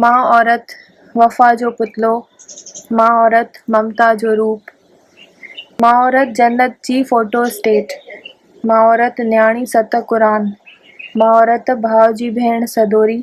ماء عورت وفا جو پتلو، ماء عورت ممتا جو روپ، ماء عورت جنت جي فوٽو اسٽيٽ، ماء عورت نياڻي ست قرآن، ماء عورت ڀاء جي ڀيڻ سدوري،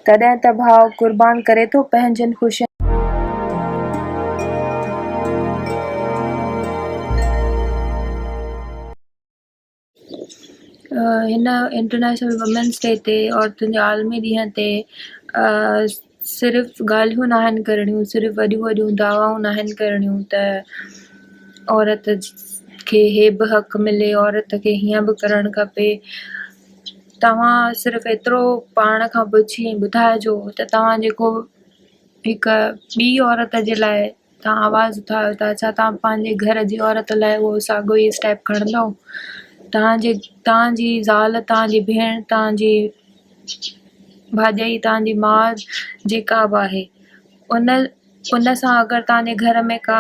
تڏهن ته ڀاء قربان ڪري ٿو پنهنجين خوشين. هن انٽرنيشنل وومينس ڊي تي عورتن جي عالمي ڏينهن تي صرف ڳالهيون نه آهن ڪرڻيون صرف وڏيون وڏيون دعوائون نه آهن ڪرڻيون ته عورت کي هي به حق ملي عورت کي هيئن به ڪرڻ کپي توهان صرف ايترو پاڻ کان پڇي ٻڌائجو ته توهان جيڪو هڪ ٻي عورت جي لاء توهان آواز اٿاريو ٿا ڇا توهان پنهنجي گهر جي عورت لاء اهو ساڳيو ئي اسٽيپ کڻندو؟ توهان جي توهان جي زال، توهان جي ڀيڻ، توهان جي ڀاڄائي، توهان جي ماء جيڪا به آهي ان ان سان اگر توهان جي گهر ۾ ڪا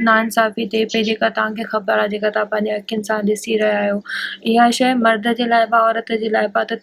ناانصافي ٿئي پئي جيڪا توهان کي خبر آهي جيڪا توهان پنهنجي اکين سان ڏسي رهيا آهيو اها شيء مرد جي لاء به عورت جي لاء به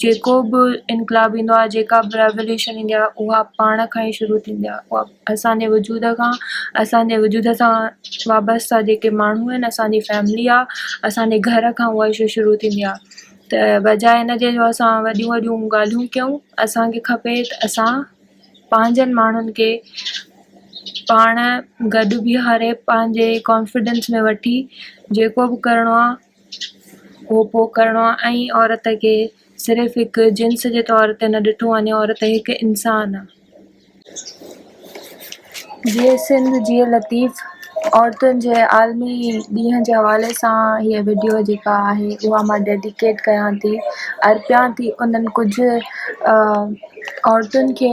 جيڪو به انقلاب ايندو آهي، جيڪا به ريوليوشن ايندي آهي، اها پاڻ کان ئي شروع ٿيندي آهي. اها اسان جي وجود کان، اسان جي وجود سان وابسته جيڪي ماڻهو آهن، اسان جي فيملي آهي، اسان جي گهر کان اها شيء شروع ٿيندي آهي. ته بجاء ان جي جو اسان وڏيون وڏيون ڳالهيون ڪيون، اسان کي کپي ته اسان پنهنجن ماڻهن کي پاڻ گڏ بيهاري، پنهنجي ڪانفڊنس ۾ وٺي جيڪو به ڪرڻو آهي، کوپو ڪرڻو ۽ عورت کي صرف هڪ جنس جي طور تي نه ڏٺو وڃي، عورت هڪ انسان آ. جي سنڌ جي لطيف عورتن جي عالمي ڏينهن جي حوالي سان هيء وڊيو جيڪا آهي اها مان ڊيڊيڪيٽ ڪيان ٿي ارپيان ٿي انهن ڪجهه عورتن کي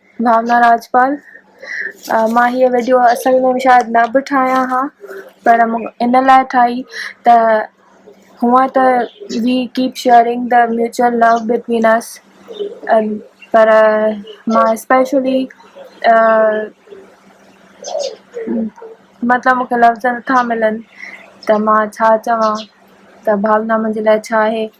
ڀاونا راجپال، مان هيء وڊيو اصل ۾ شايد نه به ٺاهيان ها پر مون ان لاء ٺاهي ته هونئن ته we keep sharing the mutual love between us پر مان اسپيشلي مطلب مون کي لفظ نٿا ملن ته مان ڇا چوان ته ڀاونا منهنجي لاء ڇا آهي.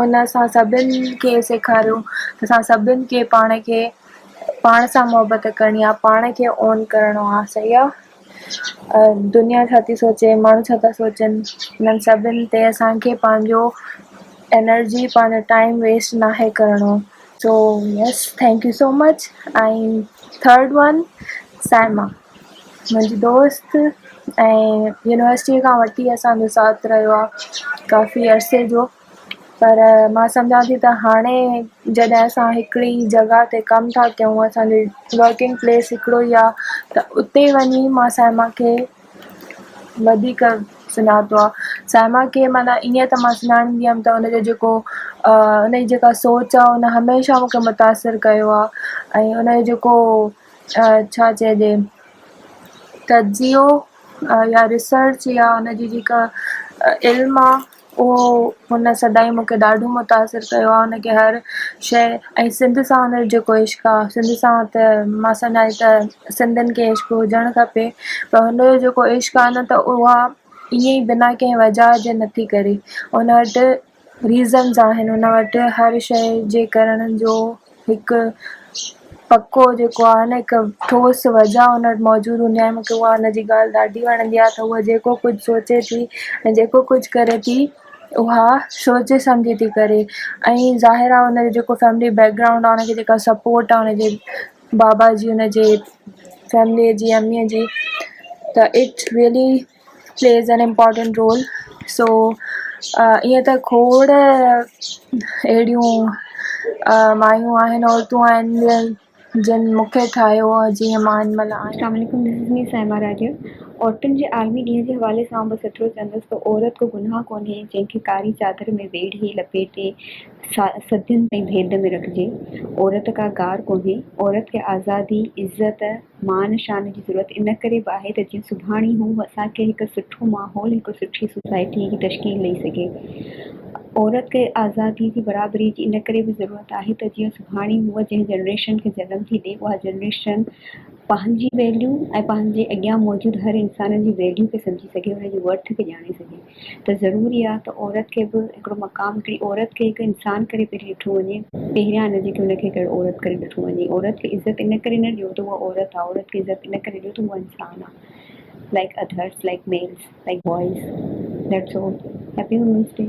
ان اسان سڀن کي سيکاريو ته اسان سڀن کي پاڻ کي پاڻ سان محبت ڪرڻي آ، پاڻ کي اون ڪرڻو آ، صحيح آ. دنيا ڇا ٿي سوچي، ماڻهو ڇا ٿا سوچن، انهن سڀن تي اسان کي پنهنجو انرجي پنهنجو ٽائيم ويسٽ ناهي ڪرڻو. So yes thank you so much ۽ third one Saima. منهنجي دوست ۽ يونيورسٽيء کان وٺي اسانجو ساٿ رهيو آهي ڪافي عرصي جو پر مان سمجهان ٿي ته هاڻي جڏهن اسان هڪڙي ئي جڳهه تي ڪم ٿا ڪيون اسانجي ورڪنگ پليس هڪڙو ئي آهي ته اتي ئي وڃي مان صائمه کي وڌيڪ سڃاتو آهي صائمه کي معنيٰ ائين ته مان سڃاڻيندي هيم ته ان جو جيڪو ان جي جيڪا سوچ آهي ان هميشه مون کي متاثر ڪيو آهي ۽ ان جو جيڪو ڇا چئجي تجزيو يا ريسرچ يا ان جي جيڪا علم آ اهو هن سدائين مون کي ڏاڍو متاثر ڪيو آ هن کي هر شئ ۽ سنڌ سان هن جو جيڪو عشق آ سنڌ سان ته مان سڃائي ته سنڌين کي عشق هجڻ کپي پر هن جو جيڪو عشق آ نه ته اها ائين ئي بنا ڪنهن وجاء جي نٿي ڪري هن وٽ Reasons آهن هن وٽ هر شئي جي ڪرڻ جو هڪ پڪو جيڪو آهي نه هڪ ٺوس وجه هن وٽ موجود هوندي آهي مونکي اها هن جي ڳالهه ڏاڍي وڻندي آهي ته هوء جيڪو ڪجهه سوچي ٿي ۽ جيڪو ڪجهه ڪري ٿي اها سوچي سمجهي ٿي ڪري ۽ ظاهر آهي هن جو جيڪو فيملي بيڪگرائونڊ آهي هن کي جيڪا سپورٽ آهي هن جي بابا جي هن جي فيملي جي امي جي ته it's really plays an important role so ايئن ته کوڙ اهڙيون مايون آهن عورتون آهن جن مونکي ٺاهيو جيئن مان هن مهل آهيان. السلام عليڪم this is me Saima Rajeev عورتن جي عالمي ڏينهن جي حوالي سان آئون بس ايترو چوندس ته عورت ڪو گناهه ڪونهي جنهن کي ڪاري چادر ۾ ويڙهي لپيٽي صدين تائين ڀيد ۾ رکجي عورت ڪا گار ڪونهي عورت کي آزادي عزت مان شان جي ضرورت ان ڪري به آهي ته جيئن سڀاڻي هو اسان کي هڪ سٺو ماحول، هڪ سٺي سوسائٽيء جي تشڪيل ڏئي سگهي. عورت کي آزاديء جي برابريء جي ان ڪري به ضرورت آهي ته جيئن سڀاڻي هو جنهن جنريشن کي جنم ٿي ڏئي اها جنريشن پنهنجي ويليو ۽ پنهنجي اڳيان موجود هر انسان جي ويليو کي سمجهي سگهي، ان جي ورٿ کي ڄاڻي سگهي. ته ضروري آ ته عورت کي به هڪڙو مقام هڪڙي عورت کي هڪ انسان ڪري پهرين ڏٺو وڃي. پهريان نه جيڪي ان کي هڪ عورت ڪري ڏٺو وڃي. عورت کي عزت ان ڪري نه ڏيو ته هوء عورت آ. عورت کي عزت ان ڪري ڏيو ته هوء انسان آ like others like males like boys that's all happy women's D.